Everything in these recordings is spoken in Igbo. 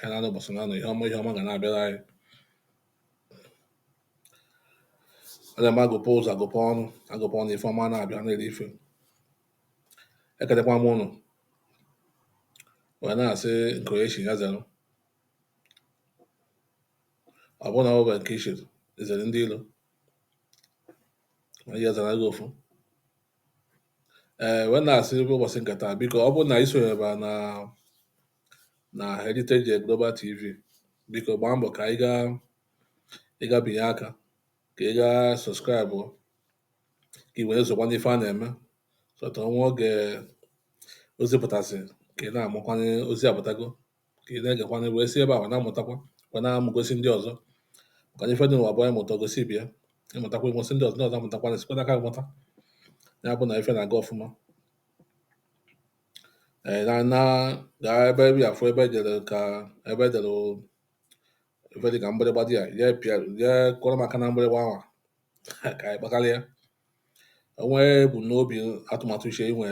anyị na-anọ ụbọchị naanọ ihe ọma ihe ọma ga na-abịara anyị a na-eme agụpụ ụzọ agụpụ ọnụ agụpụ ọnụ ife ọma na-abịa na-eri ife ekenekwa m ụnụ wee na-asị nke onye chi ya zere ọ bụrụ na ọ bụla nke ichiri izere ndị ilo ma ihe zara gị ofu ee wee na-asị ebe ụbọchị nke taa biko ọ bụrụ na ị sonyebe na na Heritage Global TV biko gbaa mbọ ka ị gaa ị gaa binye aka ka ị gaa subscribe ka ị wee na-esokwa n'ife a na-eme so that o nwee oge ozi pụtasị ka ị na-amakwa na ozi apụtago ka ị na-egekwa na wee si ebe a na-amụtakwa wee na-amụgosi ndị ọzọ maka na ife dị n'ụwa bụ anyị mụta gosi ibe ị mụtakwa ị mụsị ndị ọzọ ndị ọzọ amụtakwa na sikwa n'aka mụta ya bụ na ife na-aga ọfụma ee na na gaa ebe ihe afụ ebe e dere ka ebe e dere ife dị ka mgbịrịgba dị ya ya pịa ya kụrụ maka na mgbịrịgba ahụ ka anyị kpakarịa o nwee ebumnobi atụmatụ uche i nwe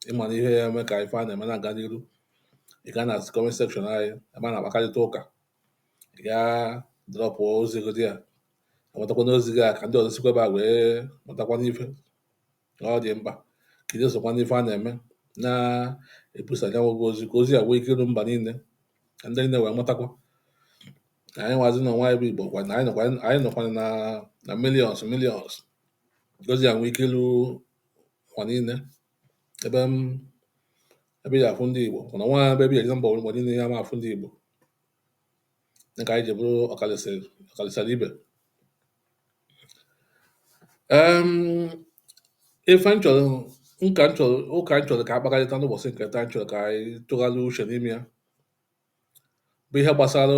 ị ma na ihe ya-eme ka ife a na-eme na-aga n'iru ị gaa na comment section anyị ebe a na-akpakarịta ụka ị gaa drop ozi godi ya amụtakwa n'ozi gị a ka ndị ọzọ sikwa ebe a wee mụtakwa n'ife na ọ dị mkpa ka ị na-esokwa n'ife a na-eme na-ebusa ya nwa bụ ozi ka ozi a nwee ike iru mba niile ka ndị niile wee mụtakwa na anyị nwazi n'ụwa bụ igbo kwa na anyị nọkwanụ na na millions millions ka ozi a nwee ike ilu ụwa niile ebe ebe ị ya-afụ ndị igbo mana nwa ebe ya egzambọ mgbe niile ya ma afụ ndị igbo dịka anyị ji bụrụ ọkalisara ibe ife m chọrọ nka m chọrọ ụka m chọrọ ka a kpakarịta n'ụbọchị nke taa m chọrọ ka anyị tụgharịa uche n'ime ya bụ ihe gbasara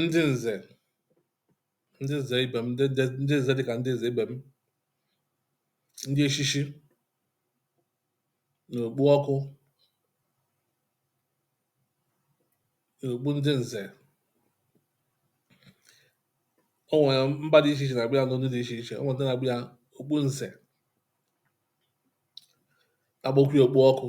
ndị nze ndị nze ibe m ndị nze ndị nze dịka ndị nze ibe m ndị echichi na okpu ọkụ na okpu ndị nze o nwere mba dị iche iche na-akpọ ya n'ụdị dị iche iche o nwere ndị na-akpọ ya okpu nze na-akpọkwa ya okpu ọkụ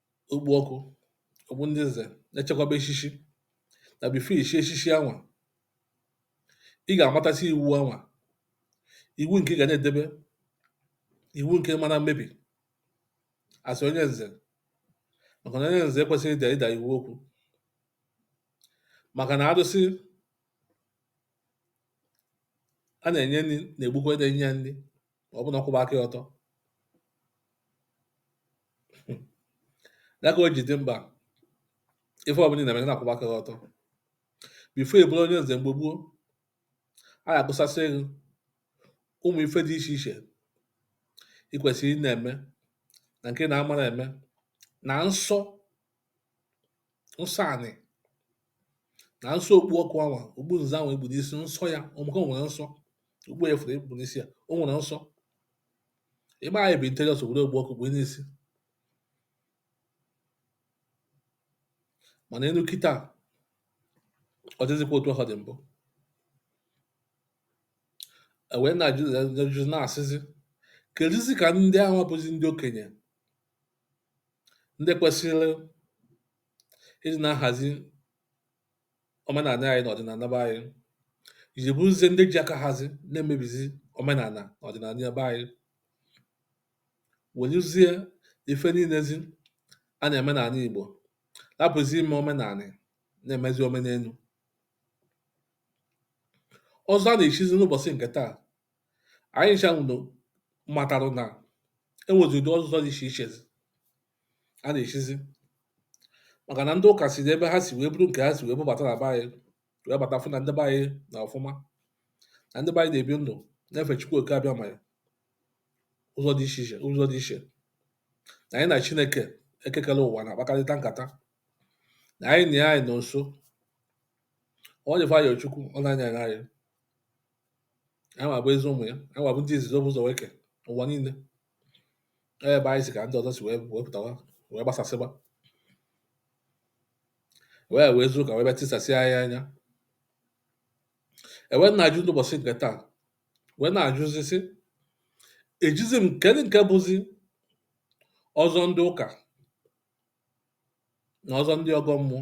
okpu ọkụ okpu ndị nze na-eshikwaba eshishi na before i shie eshishi anwa ị ga-amatasị iwu anwa iwu nke ị ga na-edebe iwu nke ị ma na-emebi as onye nze maka na onye nze ekwesịghị ịda ịda iwu okwu maka na arụsị a na-enye nri na-egbukwa onye na-enye nri ma ọ bụ na-akwụba aka ya ọtọ ya ka o ji dị mkpa ife ọbụla ị na-eme na-akwụba aka gị ọtọ before ị bụrụ onye nze mgbe gboo a ga-akọsasịrị gị ụmụ ife dị iche iche ị kwesịrị ị na-eme na nke na-amara eme na nsọ nsọ anị na nsọ okpu ọkụ anwa okpu nze anwa e kpu n'isi nsọ ya ọmụka nwere nsọ okpu ya fụrụ e kpu n'isi ya o nwere nsọ ịgba anyị bụ interiọs obodo okpu ọkụ kpue n'isi mana elu kịta ọ dịzịkwa otu ọ dị mbụ e wee na-ajụzi na-asịzi keduzi ka ndị ahụ bụzi ndị okenye ndị kwesịrị ịdị na-ahazi omenala anyị na ọdịnala be anyị ji bụrụzie ndị ji aka hazi na-emebizi omenala na ọdịnala ya be anyị weluzie ife niilezi a na-eme n'ala Igbo rapụzi ime omenala na-emezi omenelu ọzọ a na-echizi n'ụbọchị nke taa anyị ncha unu matara na e nwezi ụdị ọzọ dị iche iche a na-echizi maka na ndị ụka si n'ebe ha si wee buru nke ha si wee bubata na be anyị wee bata fụ na ndị be anyị nọ ọfụma na ndị be anyị na-ebi ndụ na-efe Chukwu oke Abịama anyị ụzọ dị iche iche ụzọ dị iche na anyị na Chineke eke kere ụwa na-akpakarịta nkata na anyị na ya anyị nọ nso ọ dịfa ya Chukwu nna anyị anyị wa bụ ezi ụmụ ya anyị wa bụ ndị izizi o bu ụzọ wee ke ụwa niile ebe anyị si ka ndị ọzọ si wee pụtawa wee gbasasịba wee wee zuru ụka wee bịa tisasịa anyị anya e wee na-ajụ n'ụbọchị nke taa wee na-ajụzi sị ejizi m kedu nke bụzi ọzọ ndị ụka na ọzọ ndị ọgọ mmụọ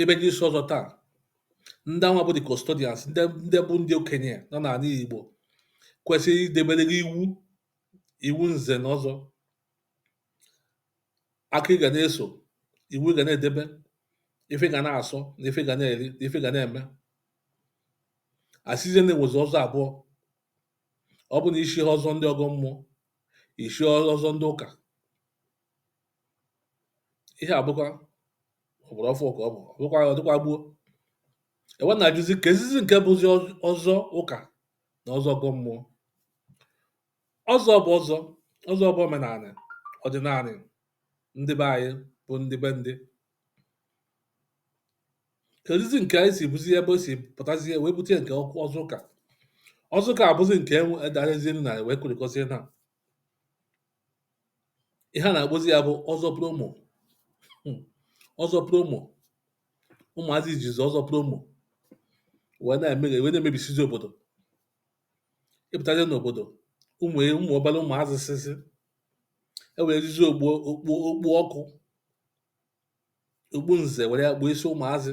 ebe ndị isi ọzọ taa ndị anwa bụ the custodians ndị bụ ndị okenye nọ n'ala Igbo kwesịrị idebere gị iwu iwu nze na ọzọ aka ị ga na-eso iwu ị ga na-edebe ife ị ga na-asọ na ife ị ga na-eri na ife ị ga na-eme a sịzie na e nwezi ọzọ abụọ ọ bụ na i chie ọzọ ndị ọgọ mmụọ i chie ọzọ ndị ụka ihe a bụkwa ọgbara ọfụụ ka ọ bụ bụkwa ọ dịkwa gboo e wee na-ajụzi keezizi nke bụzi ọzọ ụka na ọzọ ọgọ mmụọ ọzọ bụ ọzọ ọzọ bụ omenala ọdịnala ndị be anyị bụ ndị be ndị keezizi nke anyị si bụzi ebe o si pụtazie wee bute nke ọzọ ụka ọzọ ụka abụzi nke enwe edarezie na wee kụrịkọzie na ihe a na-akpọzi ya bụ ọzọ promo hmm, ọzọ promo ụmụazị ejizi ọzọ promo wee na-eme wee na-emebisizi obodo ịpụtazie n'obodo ụmụ e, ụmụ obere ụmụazị sịsị e werezizi okpu okpu okpu ọkụ okpu nze were ya kpuo isi ụmụazị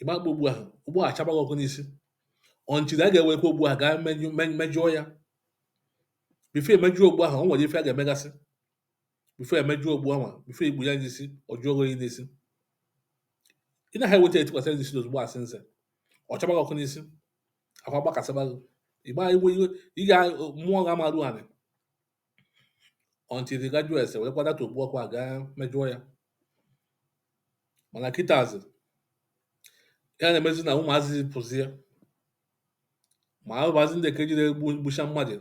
ị ma kpuo okpu ahụ okpu ahụ achaba gị ọkụ n'isi until a ga-ewekwa okpu ahụ gaa menyụ men- mejụọ ya before e mejụọ okpu ahụ o nwere ife a ga-emegasị before e mejụọ okpu ahụ before ikpu ya n'isi ọ jụọ gị oyi n'isi ị naghị eweta etikwasị ya n'isi ozugbo asị nze ọ chaba gị ọkụ n'isi akwa gbakasịba gị ịgba iwe iwe ị ga mmụọ ga amarụ anị until a ga-ejezi werekwa that okpu ahụkwa gaa mejụọ ya mana kịtazi ya na-emezi na ụmụazị pụzie ma ụmụazị ndị nke jide gbucha mmadụ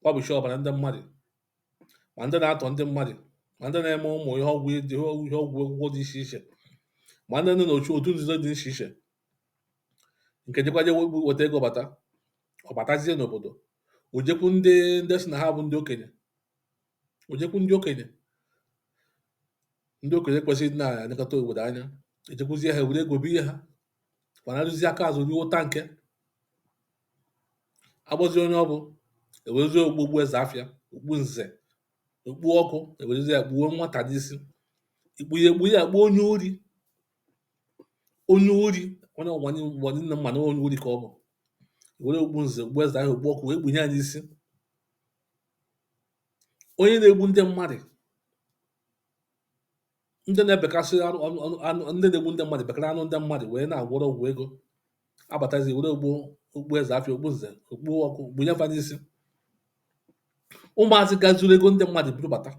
kwafucha ọbara ndị mmadụ ma ndị na-atọ ndị mmadụ ma ndị na-eme ụmụ ihe ọgwụ ihe ọgwụ ọgwụ ego dị iche iche ma ndị nọ n'otu otu nzuzo dị iche iche nke jekwaje weta ego bata ọ batazie n'obodo o jekwu ndị ndị si na ha bụ ndị okenye o jekwu ndị okenye ndị okenye kwesịrị na-elekọta obodo anya ejekwuzie ha were ego biye ha anarụzi aka azụ ruo ụta nke agbazi onye ọ bụ ewerezie okpu okpu eze afịa okpu nze okpu ọkụ ewerezie ya kpuo nwata n'isi ikpu ya ekpu ya kpuo onye ori onye ori onye ụwa ni- ụwa niine ma na onye ori ka ọ bụ e were okpu nze okpu eze afịa okpu ọkụ wee kpunye ya n'isi onye na-egbu ndị mmadụ ndị na-ebekasị anụ anụ anụ anụ ndị na-egbu ndị mmadụ bekara anụ ndị mmadụ wee na-agwọrọ ọgwụ ego a batazie e were okpu okpu eze afịa okpu nze okpu ọkụ kpunye fa n'isi ụmụazị gaa zuru ego ndị mmadụ buru bata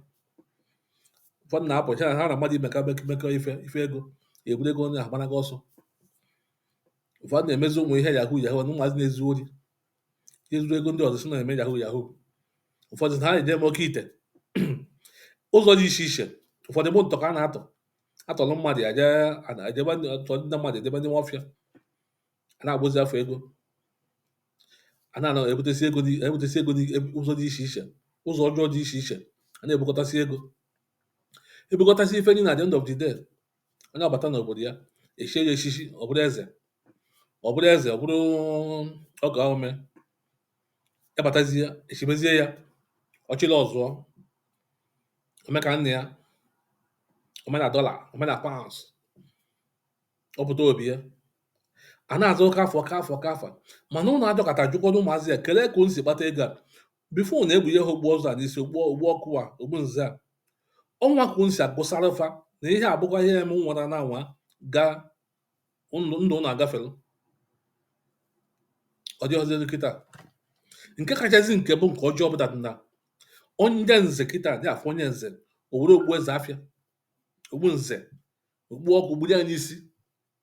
ụfọdụ na-apụ ha ha na mmadụ emekọ mekọ ife ife ego eburu ego onye ahụ gbanaga ọsọ ụfọdụ na-emezi ụmụ ihe yahoo yahoo na ụmụazị na-ezu ori ezuru ego ndị ọzọ sị ha na-eme yahoo yahoo ụfọdụ na ha na-eje eme oke ite ụzọ dị iche iche ụfọdụ bụ ntọ ka a na-atọ atọrọ mmadụ ya jee ana- ejebe ndị- atọrọ ndị mmadụ ejebe n'ime ọfịa a na-agbozi afọ ego a na-ana ebutesi ego dị ebutesi ego dị eb- ụzọ dị iche iche ụzọ ọjọọ dị iche iche a na-ebukọtasị ego ebukọtasị ife niile at the end of the day onye abata n'obodo ya echie ya echichi ọ bụrụ eze ọ bụrụ eze ọ bụrụ ọkaa omee ebatazie echimezie ya ọchịla ọzụọ ome ka nna ya ome na dollar ome na pounds ọ pụta obi ya a na-aza oke afa oke afa oke afa mana ụnụ adọkọta jụkwado ụmụazị a kelee ka unu si kpata ego a before ụnụ ekpunye ha okpu ọzọ a n'isi okpu okpu ọkụ a okpu nze a ọnwa ka unu si agụsara fa na ihe abụkwa ihe eme nwara na anwa gaa ndụ ndụ ụnụ agafere ọ dịghọziri kịta nke kachasị nke bụ nke ọjọọ bụ na onye nze kịta dị afọ onye nze o were okpu eze afịa okpu nze okpu ọkụ kpuru ya n'isi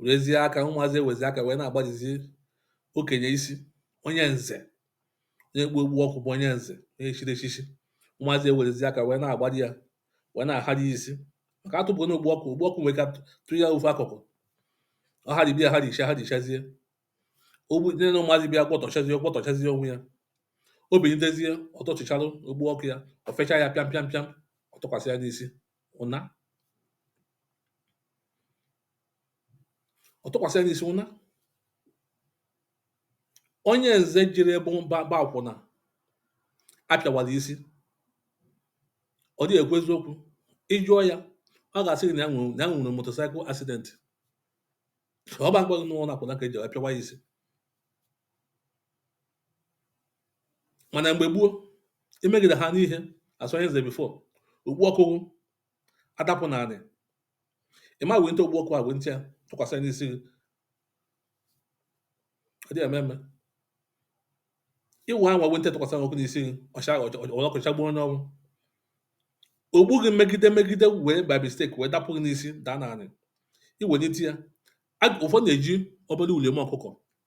werezie aka ụmụazị ewezi aka wee na-agbajizi okenye isi onye nze onye kpu okpu ọkụ bụ onye nze onye chiri echichi ụmụazị ewerezi aka wee na-agbaji ya wee na-ahaji ya isi maka atụpụ na okpu ọkụ okpu ọkụ nwere ka tụ ya ofe akụkụ ọ haribi ya haricha harichazie ogbu nne na ụmụazị bịa gwọtọchazie gwọtọchazie onwe ya o binitezie ọ tọchịcharụ okpu ọkụ ya o fecha ya pịam pịam pịam ọ tụkwasị ya n'isi ụna ọ tụkwasị ya n'isi ụna onye nze jere ebe ọ gba akwụna a pịawala isi ọ dịghị ekwu eziokwu ị jụọ ya ọ ga-asị gị na ya nwere na ya nwere motorcycle accident ọ bụ akpọghị n'ụlọ akwụna ka e ji apịawa ya isi mànà m̀gbè gboo i megìdè ha n'ihe àsọ ihe zèe before okpu ọkụ gị adapụ̀ n'anị ị̀ ma wenite okpu ọkụ à wenite ya tụkwàsị n'isi gị ọ dịghị ème ème ị wụ̀ ahụ̀ wenite tụkwàsị n'ọkụ n'isi gị ọ̀ shaa ọ̀ ọ̀ ọ̀ ọkụ̀cha gbuo onye ọnwụ okpu gị megide megide wèe by mistake wèe dapụ̀ gị n'isi dàa n'anị i wenite ya ụ̀fọ nà-èji ọbala ùlìòm ọkụkọ̀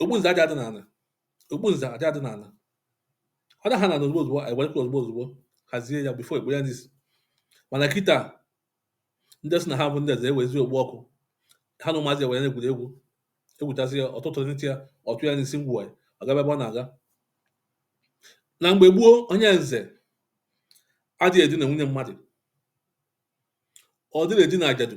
okpu nze adị ada n'ala okpu nze adị ada n'ala ọ daha n'ana ozugbo ozugbo anyị were ozugbo ozugbo hazie ya before e kpuo ya n'isi mana kịta ndị sị na ha bụ ndị eze ewezi okpu ọkụ ha na ụmụazị ewere na-egwuri egwu egwuchasị ya ọ tụtụnite ya ọ tụ ya n'isi ngwa ya ọ gaba ebe ọ na-aga na mgbe gboo onye nze adịghị edina nwunye mmadụ ọ dịghị edina ajadu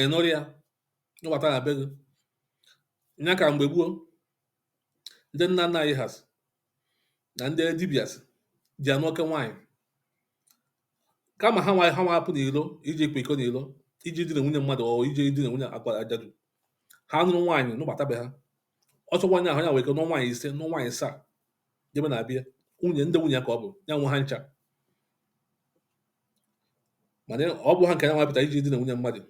ị nụrụ ya nụbata na be gị nya ka mgbe gboo ndị nna nna anyị ha sị na ndị dibịa sị ji anụ oke nwaanyị kama ha ha nwa apụ n'ilo iji kwa iko n'ilo iji dina nwunye mmadụ ọ iji dina nwunye agwa ajadu ha nụrụ nwaanyị nụbata be ha ọsọ nwaanyị ahụ ya nwere ike nụọ nwaanyị ise nụọ nwaanyị asaa jebe na abịa nwunye ndị nwunye ka ọ bụ ya nwe ha ncha mana ọ bụ ha nke ya nwa pụta iji dina nwunye mmadụ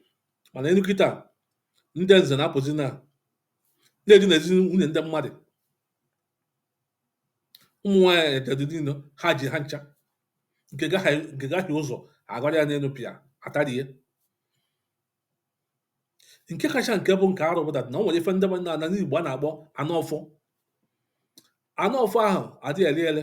mana enu kịta ndị nze na-apụzi na-edinazi nwunye ndị mmadụ ụmụ nwaanyị dịdị niile ha ji ha ncha nke gaghị ụzọ agara ya n'elu pịa atarie nke kacha nke bụ nke arụ bụ na ọ nwere ife ndị n'ala Igbo a na-akpọ anụ ọfọ anụ ọfọ ahụ adịghị eli eli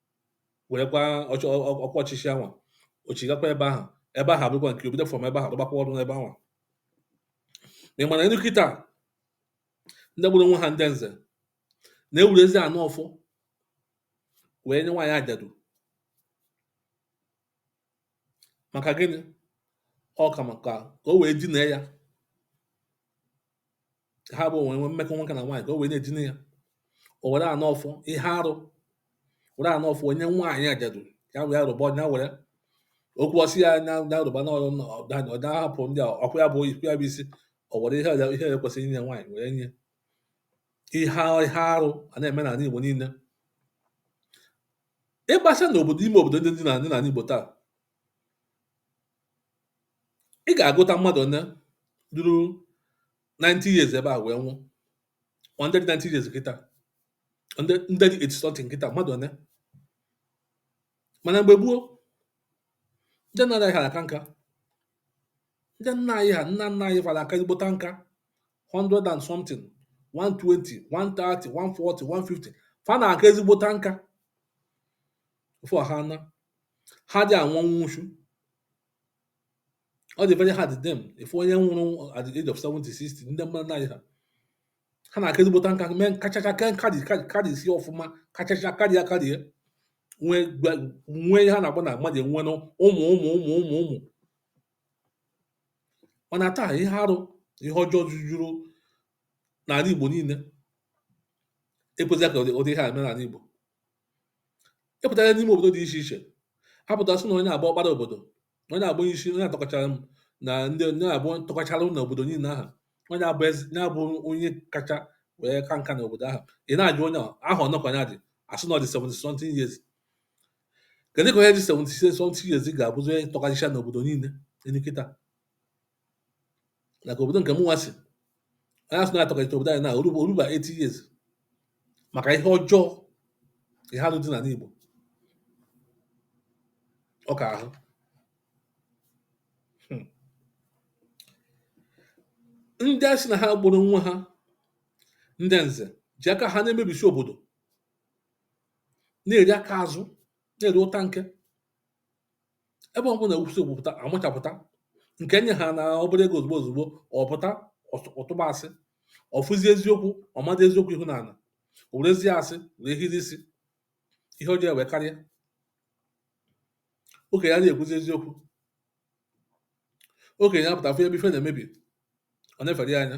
werekwa ọchị ọ- ọ- ọkwa ọchịchị anwa o chigakwa ebe ahụ ebe ahụ abụkwa nke o bido from ebe ahụ rụbakwa ọrụ n'ebe anwa ma ị mana enu kịta ndị gburu onwe ha ndị nze na-ewuruzi anụ ọfọ wee nye nwaanyị ajadu maka gịnị ọ ka maka ka o wee dinee ya ha abụọ ewee nwee mmekọ nwoke na nwaanyị ka o wee na-edina ya o were anụ ọfọ ihe arụ were anụ ọfọ nye nwaanyị ajadu ya wee arụba ọnya were okwu ọsị ya anya na arụba na ọrụ ọdanya ọda hapụ ndị a ọkụ ya bụ ikwu ya bụ isi o were ihe ọja- ihe ya kwesịrị inye nwaanyị were nye ihe ihe arụ a na-eme n'ala Igbo niile ịgbasa n'obodo ime obodo ndị dị n'ala n'ala Igbo taa ị ga-agụta mmadụ ole ruru 90 years ebe a wee nwụọ ma ndị dị 90 years kịta ndị ndị dị 80 something kịta mmadụ ole mana mgbe gboo ndị nna anyị ha na-aka nka ndị nna anyị ha nna nna anyị fa na-aka ezigbota nka 100 and something 120 130 140 150 fa na-aka ezigbota nka Before ha na, ha adị anwụ ọnwụ nwụchu. Ọ dị very hard then ịfụ onye nwụrụ at the age of 70, 60 ndị nna anyị ha ha na-aka ezigbota nka mee kachacha ke nka dị karịsie ọfụma kachacha karịa karịa nwee nwee ihe a na-agba na mmadụ enwe na ụmụ ụmụ ụmụ ụmụ ụmụ mana taa ihe arụ ihe ọjọọ jujuru n'ala Igbo niile ekwezighị ka ụdị ihe a mee n'ala Igbo ị pụta n'ime obodo dị iche iche a pụta a sị na onye a bụ ọkpara obodo onye a bụ onye isi onye a tọkachara m na ndị onye na-abụ tọkachara na obodo niile ahụ onye a bụ eze onye a bụ onye kacha wee ka nka na obodo ahụ ị na-ajụ onye ahụ one ka onye a dị a sị na ọ dị 70 something years kedu ka onye dị 70 something years ga-abụzi onye tọkachara n'obodo niile enu kịta dịka obodo nke mụnwa si anyị asị na-atọkalite obodo anyị na o ruba o ruba 80 years maka ihe ọjọọ ihe alụ dị n'ala Igbo ọ ka ahụ Hmm. ndị a sị na ha kpọrọ onwe ha ndị nze ji aka ha na-emebisi obodo na-eri aka azụ na-eri ụta nke ebe ọ bụla esemokwu pụta a machapụta nke nye ha na obere ego ozugbo ozugbo ọ pụta ọ tụ- ọ tụba asị ọ fụzi eziokwu ọ mada eziokwu ihu n'ala o werezie asị were hiri isi ihe ọjọọ wee karịa okenye adịghị ekwuzi eziokwu okenye apụta fụ ebe ife na-emebi o nefere ya anya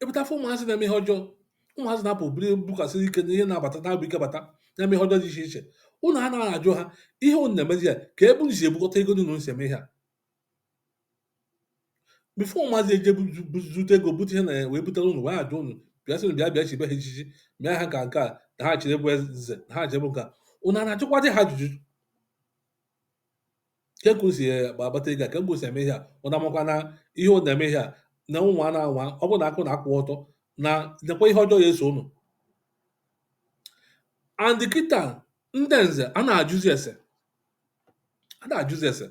ị pụta fụ ụmụazị na-eme ihe ọjọọ ụmụazị na-apụ bụrụ bụkwasị ike na ihe na-abata na-abụ ike bata na-eme ihe ọjọọ dị iche iche ụnụ anaghị ajụ ha ihe ụnụ na-emezi ya kee ebe unu si ebukọta ego dị unu si eme ihe a before ụmụazị eje zute ego bute ihe na ya wee butere ụnụ wee ajụ ụnụ bịa sị bịa bịa chibe ha echichi mịa ha ka nke a na ha chiri bụ eze na ha chiri bụ nke a ụnụ a na-ajụkwadị ha ajụjụ kee ka e si akpata ego a kee ka e si eme ihe a ụnụ makwa na ihe ụnụ na-eme ihe a na ụmụ a na-anwa ọ bụrụ na akụ na-akwụ ọtọ na nekwa ihe ọjọọ ya eso ụnụ and kịta ndị nze a na-ajụzi ese a na-ajụzi ese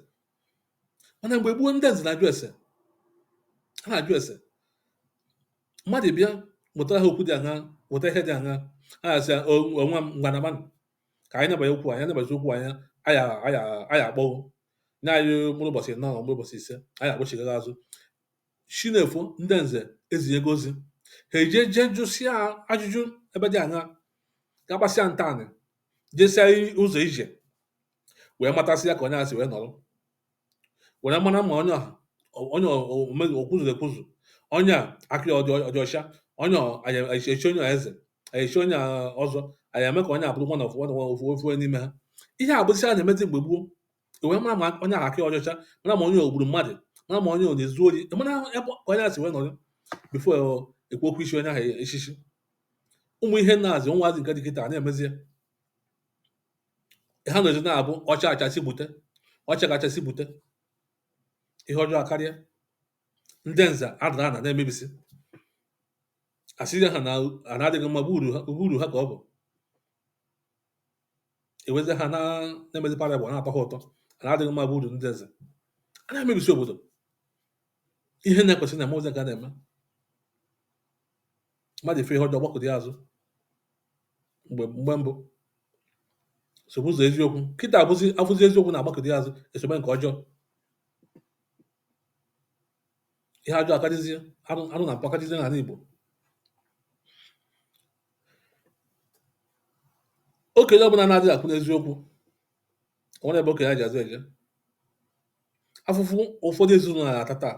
mana mgbe gboo ndị nze na-ajụ ese a na-ajụ ese mmadụ bịa butere ha okwu dị aṅa bute ihe dị aṅa a na-asị ya onwe m ngwanagbanụ ka anyị nabanye okwu anyị nabazi okwu anyị aya aya aya akpọghụ nye anyị mkpụrụ ụbọchị anọ mkpụrụ ụbọchị ise anyị akpọchigara azụ chi na-efo ndị nze ezinyego ozi ha eje jee jụsịa ajụjụ ebe dị anya gaa gbasịa ntanị jesia ụzọ ije wee matasịa ka onye a si wee nọrọ were mara ma onye ahụ onye omeghi o kwuzuru ekwuzu onye a aka ọ dị ọcha onye e chi onye eze e chi onye ọzọ anyị eme ka onye a bụrụ nwa na ofu ofu n'ime ha ihe a bụzi a na-emezi mgbe gboo wee mara ma onye ahụ aka ọ dị ọcha mara ma onye o gburu mmadụ mara ma onye ọ na-ezu ori mara ebe ka onye a si wee nọrọ before e kwuo okwu ichi onye ahụ echichi ụmụ ihe na-azị nwaazị nke dị kịta na-emezi ya ha nọzi na-abụ ọcha achasị bute ọcha kachasị bute ihe ọjọọ akarịa ndị nze adara ana na-emebisi a sị ha na ana adịghị mma bụ uru ha bụ uru ha ka ọ bụ e wezie ha na na-emezi parable na-atọ ha ụtọ ana adịghị mma bụ uru ndị nza a na-emebisi obodo ihe na-ekwesị na ụmụazị ga na-eme mmadụ ịfụ ihe ọjọọ gbakụta ya azụ mgbe mgbe mbụ sobe ụzọ eziokwu kịta abụzi afụzi eziokwu na-agbakụta azụ esobe nke ọjọọ ihe ajọ akadịzie alụ alụ na mpụ akadịzie n'ala Igbo okenye ọbụla na-adịghị akwụ n'eziokwu o nwere ebe okenye ya ji azụ eje afụfụ ụfọdụ ezinụlọ na-ata taa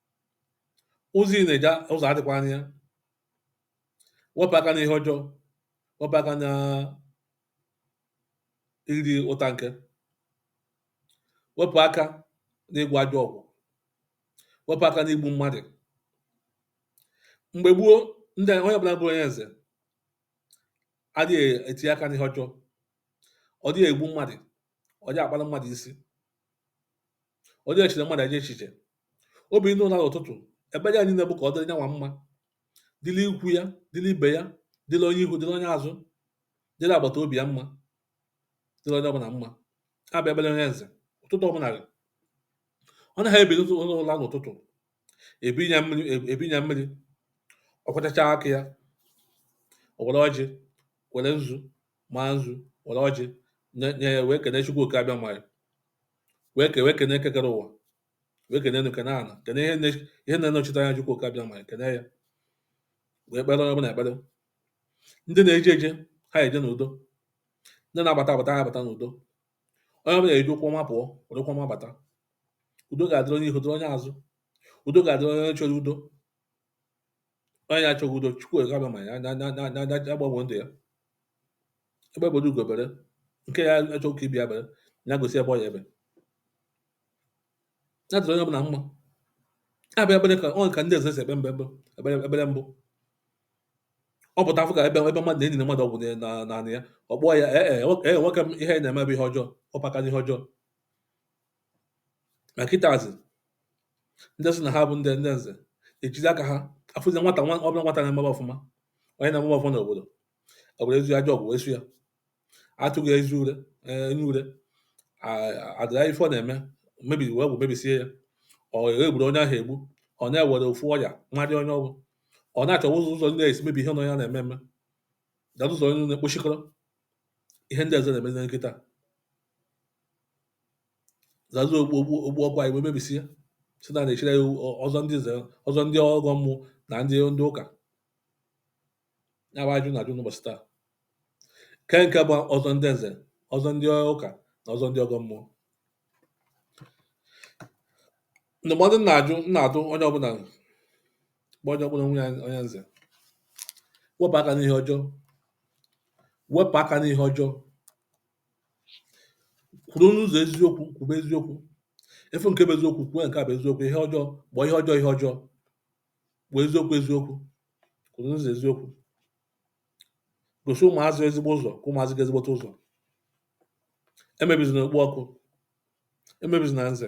ụzọ ị na-eje ụzọ adịkwa anya wepụ aka n'ihe ọjọọ wepụ aka na iri ụta nke wepụ aka n'ịgwọ ajọ ọgwụ wepụ aka n'igbu mmadụ mgbe gboo ndị onye ọbụla bụ onye nze adịghị etinye aka n'ihe ọjọọ ọ dịghị egbu mmadụ ọ dịghị akpara mmadụ nsi ọ dịghị echere mmadụ ajọ echiche o binie ụla n'ụtụtụ ekpere ya niile bụ ka ọ dịrị nyanwa mma dịrị ikwu ya dịrị ibe ya dịrị onye ihu dịrị onye azụ dịrị agbata obi ya mma dịrị onye ọbụla mma ya bụ ekpere onye nze ụtụtụ ọbụla ọ na-ebini ụla n'ụtụtụ ebunye ya mmiri ọ kwọchacha aka ya o were ọjị were nzu maa nzu were ọjị nye nye ya wee kene chukwu oke abịama wee kene eke kere ụwa wee kene enu kene ala kene ihe ne- ihe na-anọchite anya Chukwu oke abịama kene ya wee kpere onye ọbụla ekpere ndị na-eje eje ha eje n'udo ndị na-abata abata ha abata n'udo onye ọbụla eji ụkwụ ọma pụọ were ụkwụ ọma bata udo ga-adịrị onye ihu dịrị onye azụ udo ga-adịrị onye chọrọ udo onye na-achọghị udo chukwu abịama ya agbanwe ndụ ya egbe bere ugo bere nke ya achọghị ka ibe ya bere ya gosi ebe ọ ya ebe ya dịrị onye ọbụla mma ya bụ ekpere ka ọ ka ndị nze si ekpe ekpere mbụ ọ pụta afụ ka ebe ebe mmadụ na-eliri mmadụ ọgwụ n'ala ya ọ kpọọ ya ee nwoke m ihe ị na-eme bụ ihe ọjọọ wepụ aka n'ihe ọjọọ ma kịtazị ndị sị na ha bụ ndị ndị nze ejizi aka ha afụzi nwata nwa ọbụla nwata na-emebe ọfụma onye na-emebe ọfụma n'obodo ewerezie ajọ ọgwụ soo ya atụgara ya enyi ure a- adịra ife ọ na-eme mebiri wee gwụ mebisie ya ọ egburu onye ahụ egbu ọ na-ewere ofu ọya nwadị onye ọgwụ ọ na-achọwa ụzọ ụzọ ndị esi mebi ihe onye a na-eme eme dara ụzọ onye na-ekpochikọrọ ihe ndị nze na-emezi kịta zazu okpu okpu okpu ọkwa anyị wee mebisie si na na-echire ya ọzọ ndị nze ọzọ ndị ọgọ mmụọ na ndị ndị ụka ya bụ ajụ na-ajụ n'ụbọchị taa nke nke bụ ọzọ ndị nze ọzọ ndị ụka na ọzọ ndị ọgọ mmụọ ndụmọdụ m na-ajụ m na-adụ onye ọbụla bụ onye ọbụla bụ onye nze wepụ aka n'ihe ọjọọ wepụ aka n'ihe ọjọọ Kwụrụ n'ụzọ eziokwu, kwube eziokwu. Ị fụ nke bụ eziokwu, kwube nke a bụ eziokwu. Ihe ọjọọ, kpọọ ihe ọjọọ ihe ọjọọ. Kpọọ eziokwu eziokwu. Kwụrụ n'ụzọ eziokwu. Gosi ụmụazị ezigbo ụzọ, ka ụmụazị ga ezigbote ụzọ. Emebizina okpu ọkụ. Emebizina nze.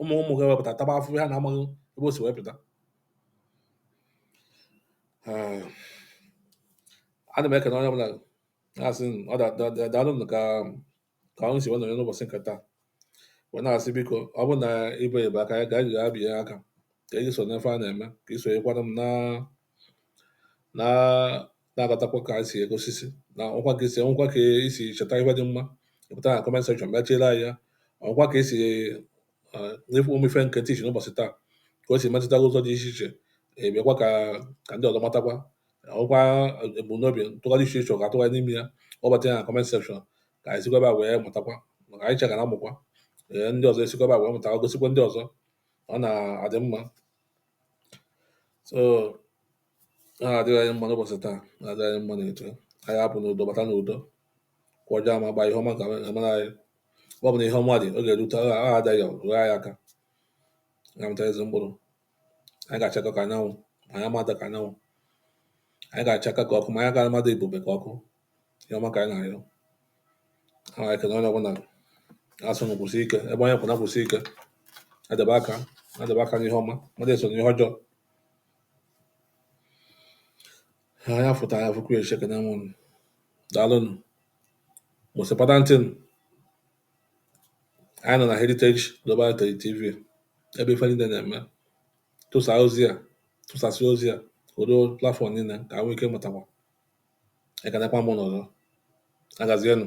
ụmụ ụmụ gị wee pụta taba afụfụ ha na-amaghị ebe o si wee pụta eh, ana m ekene onye ọbụla na-asị ụnụ daalụ nụ ka ka ụnụ si wee nọnye n'ụbọchị nke taa wee na-asị biko ọ bụrụ na i biebeghị aka ka ị gaa bie aka ka ị so n'ife a na-eme ka ị sonyekwara m na na na-aghọtakwa ka anyị si ego osisi na ọkwa ka esi ọkwa ka esi cheta ife dị mma pụta na comment section bịa tiela ya ọkwa ka esi nyefe ụmụ ife nke tichi n'ụbọchị taa ka o si metụta ụzọ dị iche iche ebịakwa ka ka ndị ọzọ matakwa ọkwa ebumnobi ntụgharị iche iche ọ ga-atụgharị n'ime ya ọ bata ya na comment section ka anyị sikwa wee mụtakwa maka anyị chegara amụkwa ee ndị ọzọ esikwa wee mụta gosikwa ndị ọzọ ọ na-adị mma so ọ na-adịrị anyị mma n'ụbọchị taa na-adịrị anyị mma na-eto anyị apụ n'udo bata n'udo ọkụ ọjọọ ama agba ihe ọma ga-emere anyị ebe ọbụna ihe ọma dị ọ ga-erute ọ adaghị rụọ anyị aka ga-amịta ezi mkpụrụ anyị ga-achaka ka anyanwụ ma anyị ama ada ka anyanwụ anyị ga-achaka ka ọkụ ma anyị ga-ama ada ebube ka ọkụ ihe ọma ka anyị na-arịọ anyị ekene onye ọbụla asị ụnụ kwụsie ike ebe onye kwụ na kwụsie ike adebe aka adebe aka n'ihe ọma mmadụ esona ihe ọjọọ anyị fụ taa anyị fụkwa echi ekene m unu daalụnụ mụsịpata ntị nụ anyị nọ na heritage global Heritage tv ebe ife niile na-eme tụsa ozi a tụsasị ozi a other platform niile ka ha nwee ike mụtakwa ekelekwa m ụnụ ọzọ. Ya gazienụ.